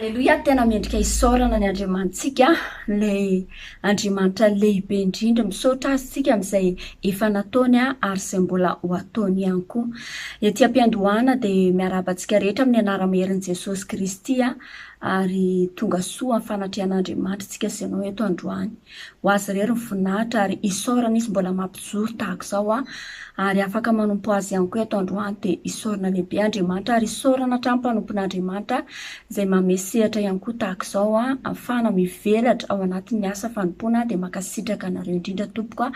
Aleloia, tena mendrika isaorana ny Andriamanitsika, ilay Andriamanitra lehibe indrindra. Misaotra Azy isika amin'izay efa nataony ary izay mbola ho ataony ihany koa. Ety am-piandohana dia miarahaba antsika rehetra amin'ny anara-maherin'i Jesosy Kristy ary tonga soa amin'ny fanatrehan'Andriamanitra isika sy ianao eto androany. Ho azy irery ny voninahitra ary isaorana izy mbola mampijoro tahaka izao an! Ary afaka manompo azy ihany koa eto androany dia isaorana lehibe Andriamanitra ary isaorana hatrany mpanompon'Andriamanitra izay manome sehatra ihany koa tahaka izao an! Afahana mivelatra ao anatin'ny asa fanompoana an! Dia mankasitraka anareo indrindra tompoko an!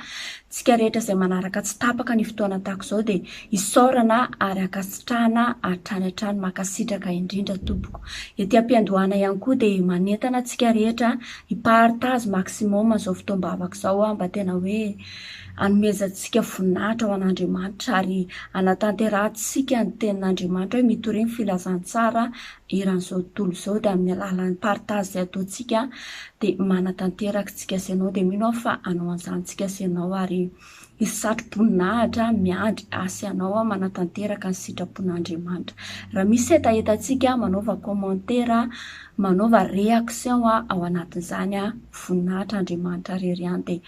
Tsika rehetra izay manaraka tsy tapaka ny fotoana tahaka izao dia isaorana ary ankasitrahana hatrany hatrany! Mankasitraka indrindra tompoko! Ety ampiandohana ihany koa dia manentana antsika rehetra I partage maximum zao fotoam-bavaka zao aho mba tena hoe anomezantsika voninahitra ho an'Andriamanitra ary anatanterahantsika ny tenin'Andriamanitra hoe mitoria ny filazantsara eran'izao tontolo izao dia amin'ny alalan'ny partage izay ataontsika dia manatanteraka tsika sy ianao dia mino aho fa hanao an'izany tsika sy ianao ary Hisy satro-boninahitra miandry ahy sy anao manatanteraka ny sitrapon'Andriamanitra. Raha misy hetahetantsika, manaova kômantera, manaova reaction ao anatin'izany voninahitr'Andriamanitra rery ihany dia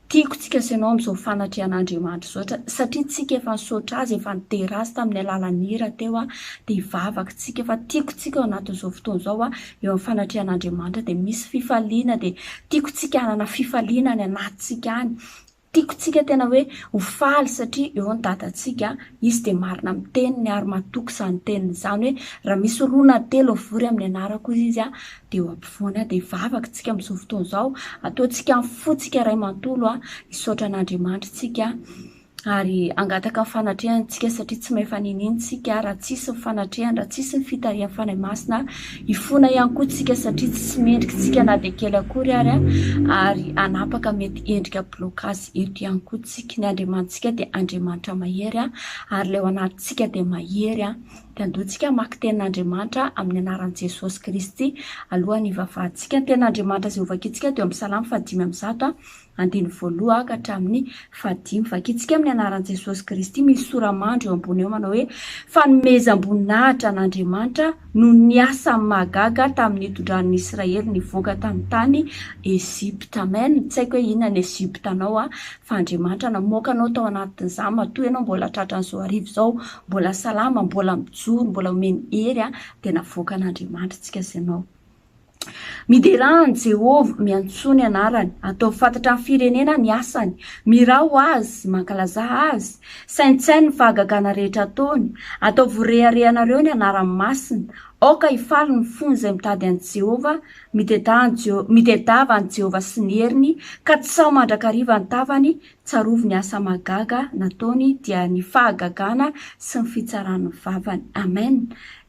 tiako tsika sy anao amin'izao fanatrehan'Andriamanitra izao satria tsika efa nisaotra Azy efa nidera Azy tamin'ny alalan'ny hira teo dia hivavaka tsika fa tiako tsika ao anatin'izao fotoana izao eo amin'ny fanatrehan'Andriamanitra dia misy fifaliana dia tiako tsika hanana fifaliana any anatintsika any Tiako tsika tena hoe ho faly satria eo ny dadantsika, izy dia marina amin'ny teniny ary matoky izany teniny izany hoe raha misy roa na telo hivory amin'ny anarako izy dia eo ampovoany aho dia vavaka tsika amin'izao fotoana izao ataontsika amin'ny fontsika iray mantolo hisaotra an'Andriamanitra tsika ary hangataka ny fanatrehany tsika satria tsy may faniniany tsika raha tsisy ny fanatrehany raha tsisy ny fitarihan'ny Fanahy Masina Hifona ihany koa tsika satria tsy mendrika tsika na dia kely akory ary ary hanapaka mety endrika blocage eto ihany koa tsika. Ny Andriamanitsika dia Andriamanitra mahery ary ilay ao anatintsika dia mahery an. Dia andeho tsika hamaky tenin'Andriamanitra amin'ny anaran'i Jesosy Kristy alohan'ny hivavahantsika. Ny tenin'Andriamanitra Jehovah kitsika dia ao amin'ny Salamo faha dimy amby zato andininy voaloha ka hatramin'ny fahadimy. Vakintsika amin'ny anaran'i Jesosy Kristy, misy sora-mandry eo ambony eo manao hoe, Fanomezam-boninahitra an'Andriamanitra noho ny asany mahagaga tamin'ny nitondrany ny Israely nivoaka tamin'ny tany Egypta. Amen! Tsy haiko hoe inona ny Egypta anao an, fa Andriamanitra namoaka anao tao anatin'izany, matoa ianao mbola tratran'izao hariva izao, mbola salama, mbola mijoro, mbola omeny hery an, dia navoakan'Andriamanitra antsika sy anao. Miderà an'i Jehovah, miantsoa ny anarany, ataovy fantatra amin'ny firenena ny asany, mirao azy, mankalazà azy, saintsaino ny fahagagana rehetra ataony, ataovy ho reharehanareo ny anarany masina. Aoka hifaly ny fony izay mitady an'i Jehovah, mitedà an'i Jeho- mitedava an'i Jehovah sy ny heriny, ka tsy sao mandrakariva ny tavany Tsarovy ny asa mahagaga nataony dia ny fahagagana sy ny fitsaran'ny vavany. Amen!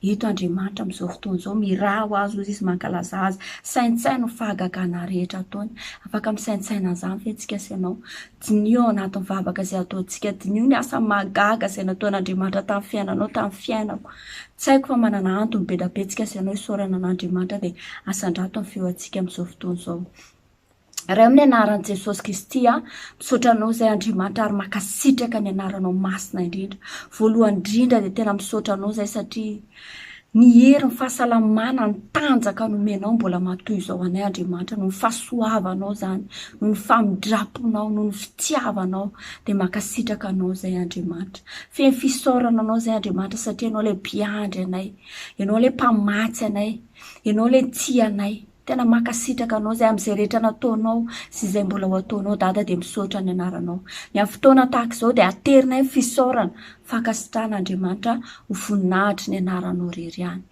Eto Andriamanitra amin'izao fotoana izao miraha ho azy hoy Izy mankalaza Azy. Saintsaino ny fahagagana rehetra ataony. Afaka misaintsaina an'izany ve tsika sy ianao? Diniho ao anatin'ny vavaka izay ataontsika. Diniho ny asa mahagaga izay nataon'Andriamanitra tamin'ny fiainanao, tamin'ny fiainako. Tsy haiko fa manana antony be da be tsika sy ianao hisaorana an'Andriamanitra dia asandrato ny feo antsika amin'izao fotoana izao. Ray amin'ny anaran'i Jesosy Kristy aho misaotra Anao izay Andriamanitra ary mankasitraka ny anaranao masina indrindra. Voalohany indrindra dia tena misaotra Anao izay satria ny hery, ny fahasalamana, ny tanjaka nomenao mbola matoy izao anay Andriamanitra noho ny fahasoavanao izany, noho ny famindramponao, noho ny fitiavanao dia mankasitraka Anao izay Andriamanitra. Feno fisaorana Anao izay Andriamanitra satria Ianao ilay mpiandry anay, Ianao ilay mpamatsy anay, Ianao ilay tia anay. Tena mankasitraka anao izay amin'izay rehetra nataonao sy izay mbola ho ataonao Dada dia misaotra ny anaranao. Ny amin'ny fotoana tahaka izao dia aterinay ny fisaorana, fankasitrahana Andriamanitra ho voninahitry ny anaranao irery ihany.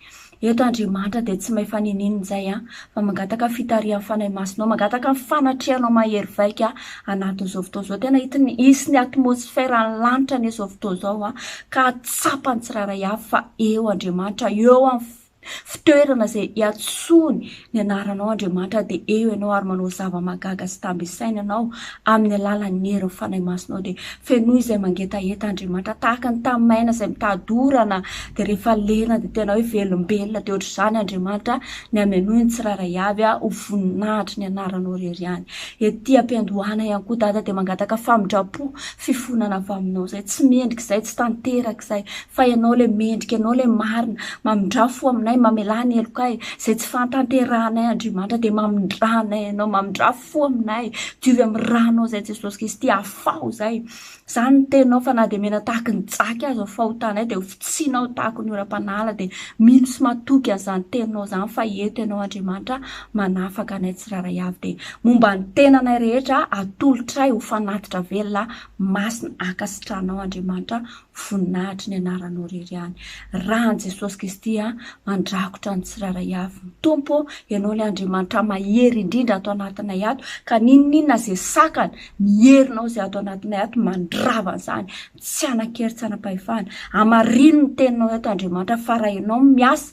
Eto Andriamanitra dia tsy may faniniana izay an, fa mangataka ny fitarihan'ny Fanahy Masinao, mangataka ny fanatrehanao mahery vaika anatin'izao fotoana izao. Tena hitany hisy ny atmosferan'ny lanitra anie izao fotoana izao an, ka tsapany tsirairay avy fa eo Andriamanitra, eo amin'ny Fitoerana izay iantsoany ny anaranao Andriamanitra dia eo ianao ary manao zava-mahagaga sy tamby isaina ianao amin'ny alalan'ny herin'ny Fanahy Masinao dia fenoy izay mangetaheta Andriamanitra tahaka ny tamin'ny maina izay mitady orana dia rehefa lena dia tena hoe velombelona dia ohatr'izany Andriamanitra ny hamenoy ny tsirairay avy aho ho voninahitry ny anaranao irery ihany ety am-piandohana ihany koa Dada dia mangataka famindram-po fifonana avy aminao izay tsy mendrika izay tsy tanteraka izay Fa ianao ilay mendrika, ianao ilay marina, mamindrà fo aminay, mamelà ny helokay, izay tsy fahatanterahanay Andriamanitra dia mamindrà anay ianao, mamindrà fo aminay, diovy amin'ny ranao izay Jesosy Kristy, afaho izay, izany ny teninao fa na dia mena tahaky ny jaky aza ny fahotanay dia hofitsianao tahaky ny oram-panahy ala dia mino sy matoky an'izany teninao izany fa eto ianao Andriamanitra manafaka anay tsirairay avy dia momba ny tenanay rehetra atolotray ho fanatitra velona masina ankasitrahanao Andriamanitra Voninahitry ny anaranao irery ihany rany Jesosy Kristy a! Mandrakotra ny tsirairay avy ny Tompo ô! Ianao ilay Andriamanitra mahery indrindra ato anatinay ato ka n'inon'inona izay sakana ny herinao izay ato anatinay ato mandrava an'izany tsy hanan-kery tsy hanam-pahefana. Hamarino ny teninao eto Andriamanitra fa raha ianao no miasa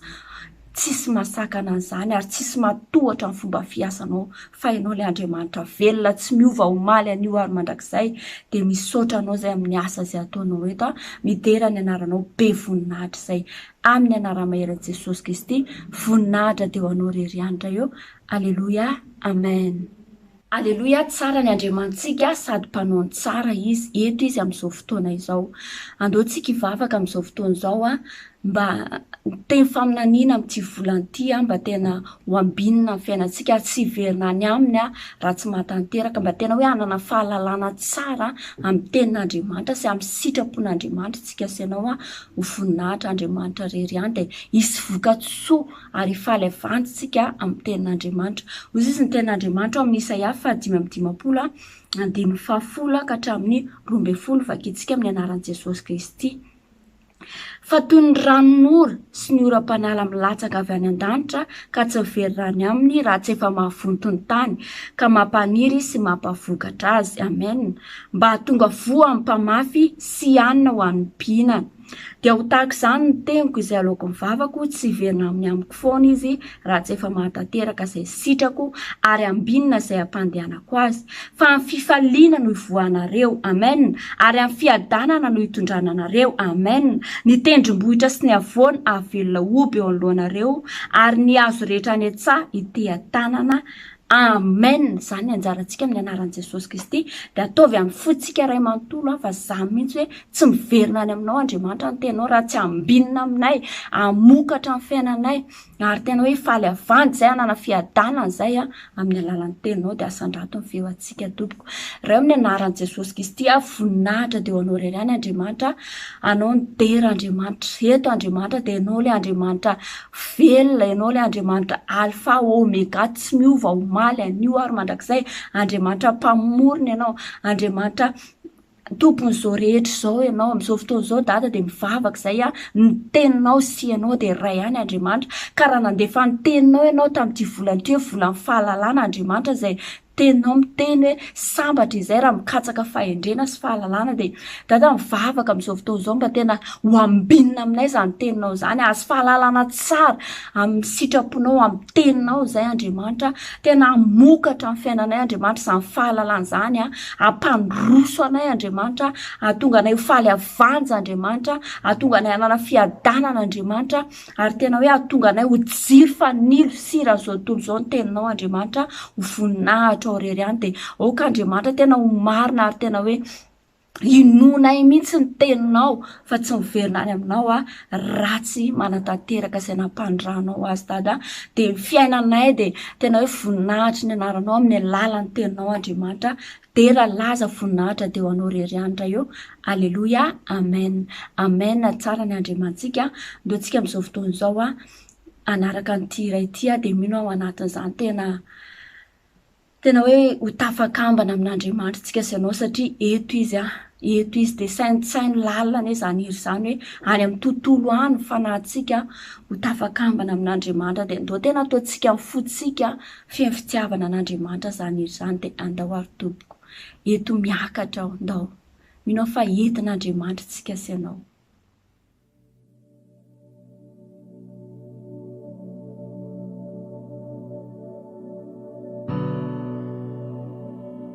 tsisy mahasakana an'izany ary tsisy mahatohatra ny fomba fiasanao fa ianao ilay Andriamanitra velona tsy miova omaly anio ary mandrakizay dia misaotra anao izay amin'ny asa izay ataonao eto aho midera ny anaranao be voninahitra izay amin'ny anara-maheran'i Jesosy Kristy voninahitra dia ho anao irery ihany Ray ô aleloia amen Aleloia, tsara ny Andriamanitsika sady mpanao ny tsara Izy, eto Izy amin'izao fotoana izao. Andao tsika hivavaka amin'izao fotoana izao an, mba hiteny faminaniana amin'ity volana ity an, mba tena ho ambinina amin'ny fiainantsika ary tsy hiverina any Aminy an, raha tsy mahatanteraka, mba tena hoe hanana fahalalana tsara amin'ny tenin'Andriamanitra sy amin'ny sitrapon'Andriamanitra tsika sy ianao an, ho voninahitra Andriamanitra irery ihany dia hisy vokatsoa. ary hifaly havandy isika amin'ny tenin'Andriamanitra. Hoy Jesosy, Ny tenin'Andriamanitra ao amin'ny Isaia fahadimy amby dimampolo, andininy fahafolo ka hatramin'ny roa ambin'ny folo, vakintsika amin'ny anaran'i Jesosy Kristy. Fa toy ny ranon'ora sy ny oram-panala milatsaka avy any an-danitra ka tsy very raha ny aminy raha tsy efa mahavonto ny tany ka mampaniry sy mampavokatra azy. Amen. Mba hahatonga voa amin'ny mpamafy sy hanina ho an'ny mpihinana. Dia ho tahaka izany ny teniko izay aloako ny vavako, tsy hiverina amin'ny amiko foana izy raha tsy efa mahatanteraka izay sitrako ary ambinina izay ampandehanako azy. Fa amin'ny fifaliana no hivoahanareo. Amen. Ary amin'ny fiadanana no hitondrana anareo. Amen. Ny tendrombohitra sy ny havoana hahavelona hoby eo anoloanareo, ary ny hazo rehetra any an-tsaha hiteha-tanana. Amen. Amen zany anjarantsika amin'ny anaran'i Jesosy Kristy dia ataovy amin'ny fontsika ray manontolo an fa zany mihitsy hoe tsy miverina any aminao Andriamanitra ny tenao raha tsy ambinina aminay hamokatra ny fiainanay ary tena hoe faly havandy zay hanana fiadanana zay an amin'ny alalan'ny tenao dia asandrato ny feo antsika tompoko ray amin'ny anaran'i Jesosy Kristy an voninahitra dia ho anao irery any Andriamanitra anao ny dera Andriamanitra eto Andriamanitra dia ianao ilay Andriamanitra Velona Ianao ilay Andriamanitra Alfa Omega tsy miova omaly anio ary mandrakizay. Andriamanitra Mpamorona Ianao. Andriamanitra Tompon'izao rehetra izao Ianao. Amin'izao fotoana izao Dada dia mivavaka izay aho, ny Teninao sy Ianao dia iray ihany Andriamanitra. Ka raha nandefa ny Teninao Ianao tamin'ity volana ity hoe volan'ny fahalalana Andriamanitra izay Teninao miteny hoe sambatra izay raha mikatsaka fahendrena sy fahalalana dia Dada mivavaka amin'izao fotoana izao mba tena ho ambinina aminay izany teninao izany azo fahalalana tsara amin'ny sitraponao amin'ny teninao izay Andriamanitra tena hamokatra amin'ny fiainanay Andriamanitra izany fahalalana izany a hampandroso anay Andriamanitra hahatonga anay ho faly havanja Andriamanitra hahatonga anay hanana fiadanana Andriamanitra Ary tena hoe hahatonga anay ho jiro fanilo sy sira an'izao tontolo izao ny teninao Andriamanitra a, ho voninahitra ao irery any dia aoka Andriamanitra tena ho marina ary tena hoe inoanay mihitsy ny teninao fa tsy miverina any aminao a, ratsy manatanteraka izay nampandranao azy Dada a, dia ny fiainanay dia tena hoe voninahitry ny anaranao amin'ny alalan'ny teninao Andriamanitra, Dera laza voninahitra de ho anao rery anitra eo aleloia amen amen tsara ny andriamantsika ndao tsika amizao fotoana izao a anaraka an'ity iray ity a de mino aho anatin'izany tena tena hoe ho tafakambana amin'andriamanitra tsika sy ianao satria eto izy a eto izy de saintsaino lalina anie zany hira zany hoe any amin'ny tontolo any ny fanahintsika ho tafakambana amin'andriamanitra de ndao tena ataontsika ny fotsika Feno fitiavana an'Andriamanitra zany io zany de andao ary tompoko eto miakatra aho ndao mino aho fa entin'Andriamanitra tsika sy anao.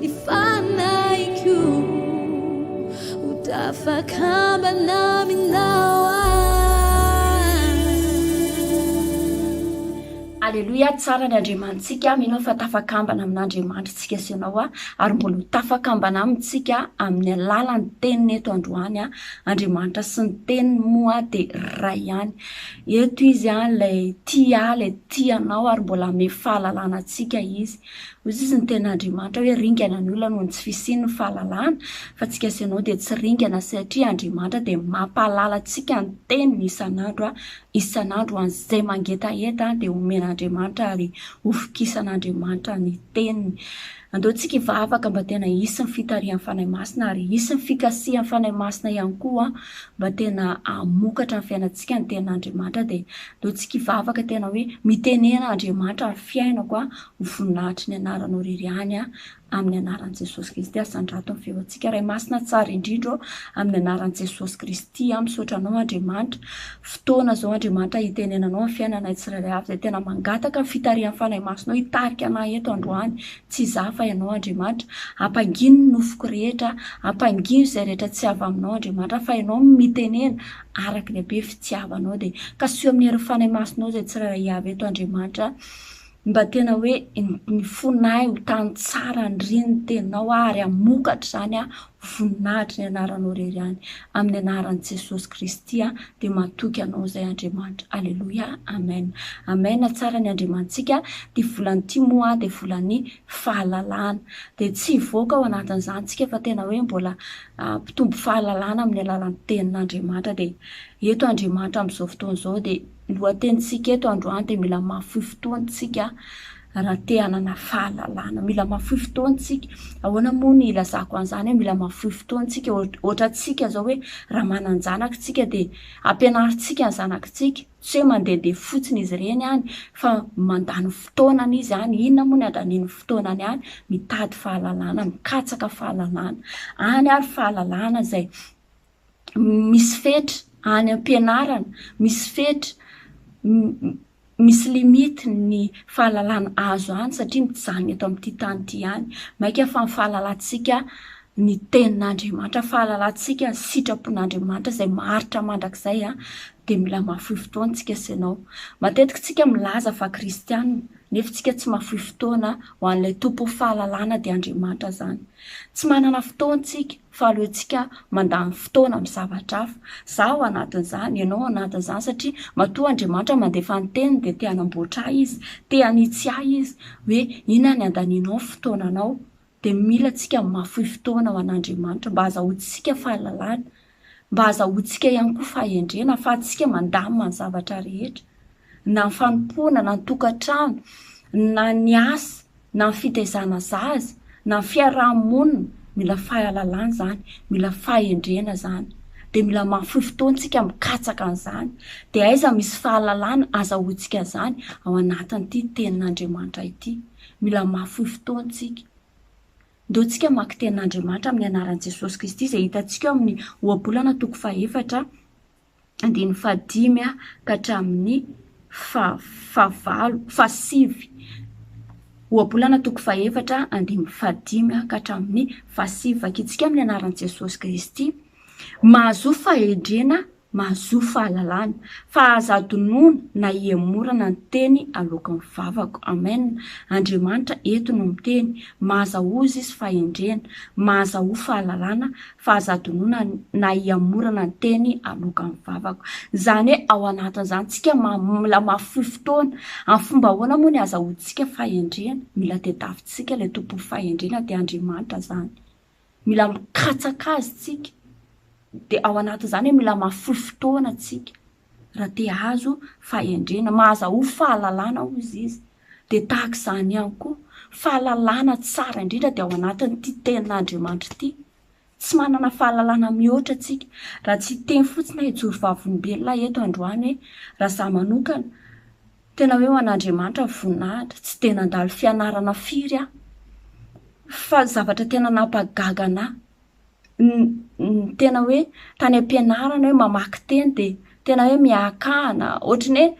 Ny fanahiko ho tafakambana aminao aho. Aleloia, tsara ny Andriamanitsika, mino aho fa tafakambana amin'Andriamanitritsika sy ianao aho, ary mbola ho tafakambana amintsika amin'ny alalan'ny teniny eto androany aho, Andriamanitra sy ny teniny moa dia iray ihany, eto izy an, ilay tia ahy, ilay tia anao ary mbola hame fahalalana antsika izy, Hoy izy, Ny tena Andriamanitra hoe ringana ny olona noho ny tsy fisian' ny fahalalana, fa antsika sy ianao dia tsy ringana satria Andriamanitra dia mampahalala antsika ny Teniny isan' andro, isan' andro ho an' izay mangetaheta dia homen' Andriamanitra ary hovokisan' Andriamanitra ny Teniny. Andeontsika hivavaka mba tena hisy ny fitarihan' ny Fanahy Masina ary hisy ny fikasihan' ny Fanahy Masina ihany koa mba tena hamokatra ny fiainantsika ny Tenin' Andriamanitra dia Ndao tsy kivavaka tena hoe mitenena Andriamanitra ary fiainako an ho voninahitry ny anaranao irery ihany an amin'ny anaran'i Jesosy Kristy asandrato ny feontsika Ray masina tsara indrindra ô amin'ny anaran'i Jesosy Kristy an misaotra anao Andriamanitra fotoana izao Andriamanitra hitenenanao amin'ny fiainanay tsirairay avy izay tena mangataka ny fitarihan'ny Fanahy Masinao hitarika anay eto androany tsy izaho fa ianao Andriamanitra ampangino ny nofoko rehetra ampangino izay rehetra tsy avy aminao Andriamanitra fa ianao no mitenena araka ny habe fitiavanao, dia kasohy amin'ny herin'ny Fanahy Masinao izay tsirairay Iaveh eto Andriamanitra mba tena hoe ny fonay ho tany tsara andrin ny teninao aho ary hamokatra izany aho ho voninahitry ny anaranao irery ihany amin'ny anaran'i Jesosy Kristy aho dia matoky anao izay Andriamanitra aleloia amen amen tsara ny Andriamanitsika dia volan'ny timo aho dia volan'ny fahalalana. Dia tsy hivoaka ao anatin'izany isika fa tena hoe mbola mpitombo fahalalana amin'ny alalan'ny Tenin'Andriamanitra. Dia eto Andriamanitra amin'izao fotoana izao dia ny lohatenintsika eto androany dia mila mahafoy fotoana isika raha te hanana fahalalana. Mila mahafoy fotoana isika. Ahoana moa ny hilazako an'izany hoe mila mahafoy fotoana isika? Ohatra antsika izao hoe raha manan-janaka isika dia ampianarintsika ny zanakitsika Tsy hoe mandehandeha fotsiny izy ireny any fa mandany fotoanany izy any. Inona moa ny andaniany fotoanany any? Mitady fahalalana, mikatsaka fahalalana. Any ary fahalalana izay misy fetra, any am-pianarana misy fetra, misy limite ny fahalalana azo any satria mijanona eto amin'ity tany ity ihany. Mainka fa ny fahalalantsika ny tenin'Andriamanitra, fahalalantsika ny sitrapon'Andriamanitra izay maharitra mandrakizay dia mila mahafoy fotoana tsika sy ianao. Matetika tsika milaza fa kristiana nefa tsika tsy mahafoy fotoana ho an'ilay Tompon'ny fahalalana dia Andriamanitra izany. Tsy manana fotoana tsika fa aleontsika mandany fotoana amin'ny zavatra hafa. Za ao anatin'izany, ianao ao anatin'izany satria matoa Andriamanitra mandefa ny teniny dia te-hanamboatra ahy izy, te-hanitsy ahy izy hoe inona ny andanianao ny fotoananao dia mila antsika mahafoy fotoana ho an'Andriamanitra mba hahazahoantsika fahalalana, mba hahazahoantsika ihany koa fahendrena hahafahantsika mandamina ny zavatra rehetra, na ny fanompoana, na ny tokantrano, na ny asa, na ny fitaizana zaza, na ny fiaraha-monina, mila fahalalana izany, mila fahendrena izany, dia mila mahafoy fotoana isika mikatsaka an'izany, dia aiza misy fahalalana azahoantsika an'izany? ao anatin'ity Tenin'Andriamanitra ity. Mila mahafoy fotoana isika. Ndeontsika hamaky Tenin'Andriamanitra amin'ny anaran'i Jesosy Kristy izay hitantsika ao amin'ny Ohabolana toko fahefatra, andininy fahadimy ka hatramin'ny fahavalo, fahasivy. Ohabolana toko fahefatra, andininy fahadimy ka hatramin'ny fahasivy. Vakintsika amin'ny anaran'i Jesosy Kristy. Mahazoa fahendrena Mahazoa fahalalana. Fa aza adinoina na ihemorana ny teny aloakan'ny vavako. Amen. Andriamanitra eto no miteny. Maza oza izy fahendrena. Maza oa fahalalana. Fa aza adinoina na ihemorana ny teny aloakan'ny vavako. Izany hoe ao anatin'izany tsika ma mila ma foy fotoana. Amin'ny fomba ahoana moa ny azahoantsika fahendrena? Mila tedavitsika ilay Tompon'ny fahendrena dia Andriamanitra izany. Mila mikatsaka azy tsika, dia ao anatin'izany hoe mila mahafoy fotoana tsika raha te hahazo fahendrena. Mahazahoa fahalalana hozy izy, dia tahaka izany ihany koa, fahalalana tsara indrindra dia ao anatin'ity tenin'Andriamanitra ity. Tsy manana fahalalana mihoatra tsika raha tsy hiteny fotsiny aho hijoro vavolombelona aho eto androany hoe raha za manokana Tena hoe ho an'Andriamanitra ny voninahitra. Tsy dia nandalo fianarana firy aho, fa ny zavatra tena nampagaga an'ahy, ny tena hoe tany am-pianarana hoe mamaky teny dia tena hoe miahakahana. Ohatry ny hoe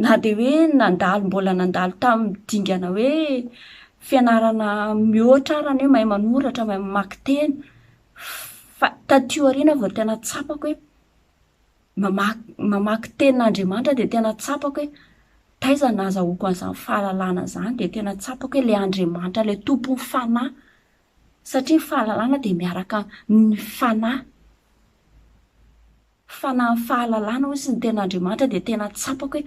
na dia hoe nandalo mbola nandalo tamin'ny dingana hoe fianarana mihoatra ary ny hoe mahay manoratra, mahay mamaky teny. Fa taty aoriana aho vao tena tsapako hoe. mamaky mamaky tenin'Andriamanitra dia tena tsapako hoe taiza no nahazahoako an'izany fahalalana izany dia tena tsapako hoe ilay Andriamanitra ilay tompon'ny fanahy satria ny fahalalana dia miaraka amin'ny fanahy, fanahin'ny fahalalana hoy izy ny tenin'Andriamanitra dia tena tsapako hoe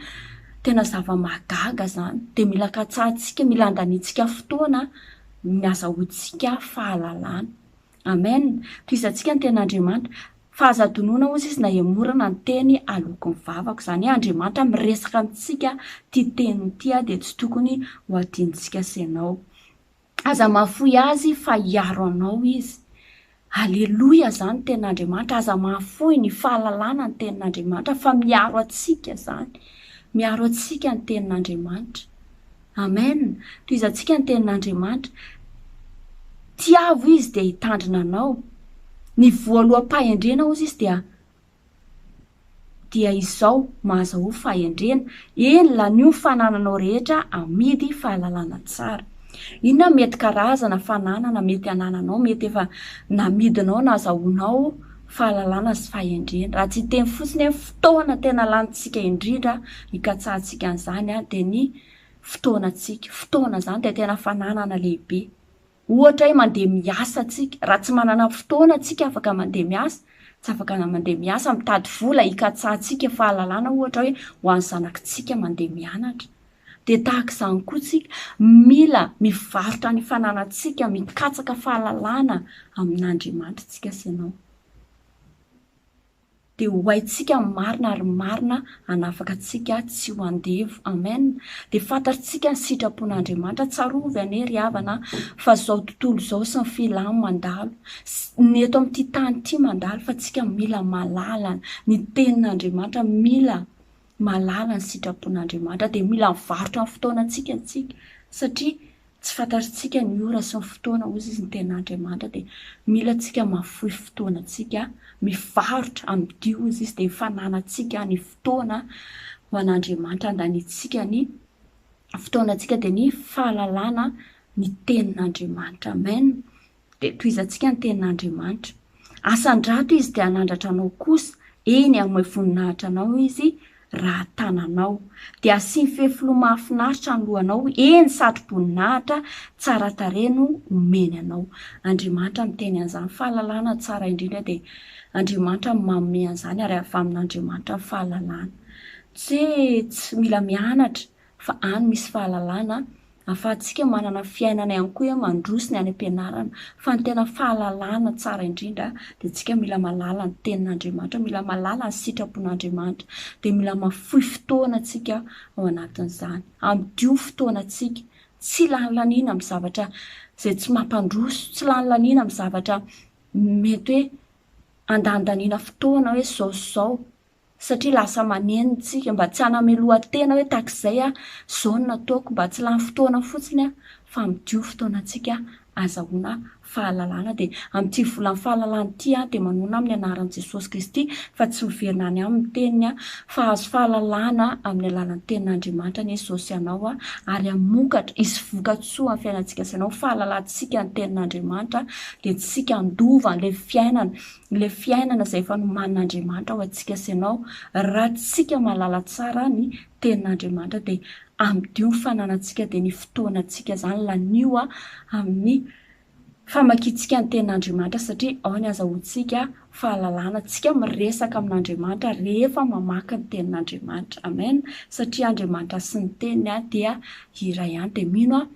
tena zava-mahagaga izany dia mila katsahintsika mila andaniantsika fotoana an ny azahoantsika fahalalana Amen, tohizantsika ny ten'Andriamanitra, fa aza adinoina ozy izy na emorana ny teny aloako ny vavako, izany hoe Andriamanitra miresaka amintsika, ity teny ity aho dia tsy tokony ho adinontsika sy ianao, aza mahafoy azy fa hiaro anao izy, aleloia izany ny ten'Andriamanitra, aza mahafoy ny fahalalana ny tenin'Andriamanitra fa miaro antsika izany, miaro antsika ny tenin'Andriamanitra. Amen, tohizantsika ny tenin'Andriamanitra, Tiavo Izy dia hitandrina anao. Ny voaloham-pahendrena ozy izy dia dia izao mahazo ho fahendrena, eny lanio ny fanananao rehetra amidy fahalalana tsara. Inona mety karazana fananana mety anananao, mety efa namidinao, nazahoanao, fahalalana sy fahendrena. Raha tsy hiteny fotsiny hoe fotoana tena lanintsika indrindra hikatsahantsika an'izany dia ny fotoanantsika. Fotoana izany dia tena fananana lehibe. Ohatra hoe mandeha miasa tsika, raha tsy manana fotoana tsika afaka mandeha miasa, tsy afaka mandeha miasa, mitady vola hikatsahantsika fahalalana ohatra hoe ho an'ny zanakitsika mandeha mianatra. Dia tahaka izany koa isika, mila mivarotra ny fananantsika, mikatsaka fahalalana amin'Andriamanitra isika sy ianao. Dia ho haintsika ny marina ary ny marina hanafaka antsika tsy ho andevo. Amen. Dia fantatritsika ny sitrapon'Andriamanitra. Tsarovy anie ry havana fa izao tontolo izao sy ny filany mandalo, ny eto amin'ity tany ity mandalo fa tsika mila mahalala ny tenin'Andriamanitra, mila mahalala ny sitrapon'Andriamanitra dia mila mivarotra ny fotoanantsika isika satria tsy fantatr'isika ny ora sy ny fotoana hozy izy ny ten'Andriamanitra dia mila antsika mahafoy fotoanantsika mivarotra amidy hozy izy dia ny fananantsika ny fotoana ho an'Andriamanitra andaniantsika ny fotoanantsika dia ny fahalalana ny tenin'Andriamanitra amen dia tohizantsika ny tenin'Andriamanitra. Asan-drato Izy dia hanandratra anao kosa, eny, hanome voninahitra anao Izy raha tananao. Dia hasiany fefiloha mahafinaritra ny lohanao, eny, satro-boninahitra tsara tarehy no homeny anao. Andriamanitra miteny an'izany fahalalana tsara indrindra dia Andriamanitra no manome an'izany ary avy amin'Andriamanitra ny fahalalana. Tsy hoe tsy mila mianatra fa any misy fahalalana ahafahantsika manana fiainana ihany koa hoe mandroso ny any am-pianarana fa ny tena fahalalana tsara indrindra dia antsika mila mahalala ny tenin'Andriamanitra, mila mahalala ny sitrapon'Andriamanitra dia mila mahafoy fotoana antsika ao anatin'izany. Amdio fotoana antsika, tsy lany laniana amin'ny zavatra izay tsy mampandroso, tsy lany laniana amin'ny zavatra mety hoe andanindaniana fotoana hoe izao sy izao satria lasa maneno isika, mba tsy hanamelohan-tena hoe tahak'izay aho, izao no nataoko, mba tsy lany fotoana fotsiny aho fa midio fotoanantsika azahoana fahalalana, dia amin'ity volan'ny fahalalana ity aho dia manona amin'ny anaran'i Jesosy Kristy fa tsy miverina any aminy ny teniny aho, fa hahazo fahalalana amin'ny alalan'ny tenin'Andriamanitra anie izao sy ianao aho, ary hamokatra, hisy voka-tsoa amin'ny fiainantsika sy ianao, fahalalantsika ny tenin'Andriamanitra dia tsy isika handova an'ilay fiainana ilay fiainana izay efa nomanin'Andriamanitra ho antsika sy ianao, raha tsika mahalala tsara ny tenin'Andriamanitra dia amidio ny fananantsika dia ny fotoanantsika izany lanio amin'ny famakiantsika ny tenin'Andriamanitra satria ao ny azahoantsika fahalalana, tsika miresaka amin'Andriamanitra rehefa mamaky ny tenin'Andriamanitra, amen, satria Andriamanitra sy ny teniny dia iray ihany dia mino aho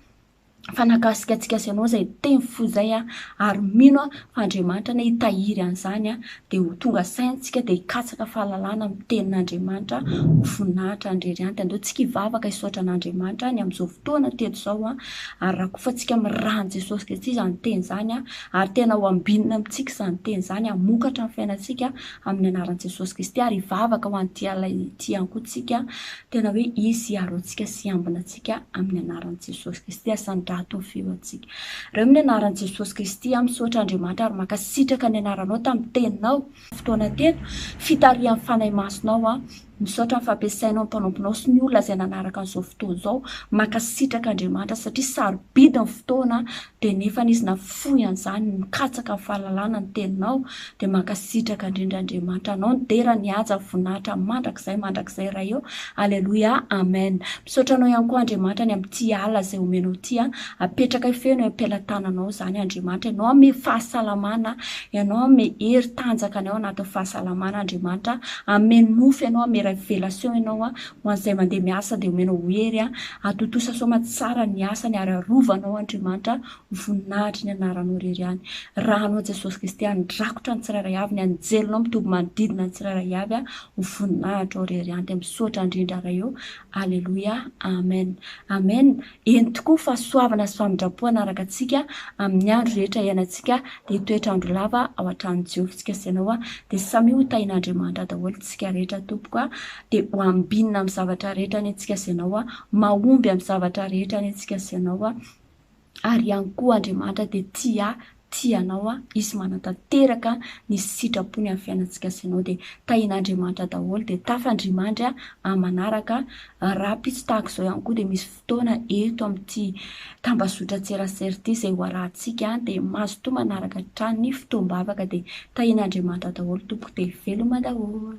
fa nakasika antsika sy anao izay teny fo izay an, ary mino aho fa Andriamanitra anie hitahiry an'izany an, dia ho tonga saintsika dia hikatsaka fahalalana amin'ny tenin'Andriamanitra ho voninahitra an'i Rerianty. Andao tsika hivavaka hisaotra an'Andriamanitra ny amin'izao fotoana teto izao an, ary rakofantsika amin'ny ran'i Jesosy Kristy izany teny izany an, ary tena ho ambinina amintsika izany teny izany hamokatra amin'ny fiainantsika amin'ny anaran'i Jesosy Kristy, ary hivavaka ho an'ity alina ity ihany koa tsika tena hoe izy hiaro antsika sy hiambina antsika. antsika amin'ny anaran'i Jesosy Kristy asandrato ny feo antsika reo amin'ny anaran'i Jesosy Kristy aho misaotra Andriamanitra ary mankasitraka ny anaranao tamin'ny teninao fotoana teto fitarihan'ny fanahy masonao aho misaotra ny fampiasainao ny mpanomponao sy ny olona izay nanaraka an'izao fotoana izao mankasitraka Andriamanitra satria sarobidy ny fotoana dia nefa nisy nafoy an'izany mikatsaka ny fahalalana ny teninao dia mankasitraka indrindra Andriamanitra anao nidera ny haja voninahitra mandrakizay mandrakizay Ray ô Aleloia Amen Misaotra anao ihany koa Andriamanitra ny amin'ity alina izay omenao ity an apetraka hifeno eo am-pelatananao izany Andriamanitra ianao hanome fahasalamana ianao hanome hery tanjaka ny ao anatin'ny fahasalamana Andriamanitra an hanome nofy ianao hanome révélation ianao an Ho an'izay mandeha miasa dia omena ho hery an! Atontosa soa aman-tsara ny asany ary arovanao Andriamanitra ho voninahitry ny anaranao irery ihany. Rahanao Jesosy Kristy handrakotra ny tsirairay avy, ny anjelinao mitoby manodidina ny tsirairay avy an! Ho voninahitra ao irery ihany dia misaotra indrindra Ray ô! Aleloia! Amen! Amen! Eny tokoa, fahasoavana sy famindram-po hanaraka antsika amin'ny andro rehetra iainantsika, dia hitoetra andro lava ao an-tranon'i Jehovah isika sy ianao, dia samia ho tahin'Andriamanitra daholo tsika rehetra tompoko a, dia ho ambinina amin'ny zavatra rehetra anie tsika sy ianao, mahomby amin'ny zavatra rehetra anie tsika sy ianao, ary ihany koa Andriamanitra dia tia ahy Tia anao aho, izy manatanteraka ny sitrapony amin'ny fiainantsika sy anao dia tahin'Andriamanitra daholo dia tafandrimandry amin'ny manaraka rahampitso tahaka izao ihany koa dia misy fotoana eto amin'ity tambazotran-tserasera ity izay ho arahantsika dia mazotoa manaraka hatrany ny fotoam-bavaka dia tahin'Andriamanitra daholo tompoko dia veloma daholo.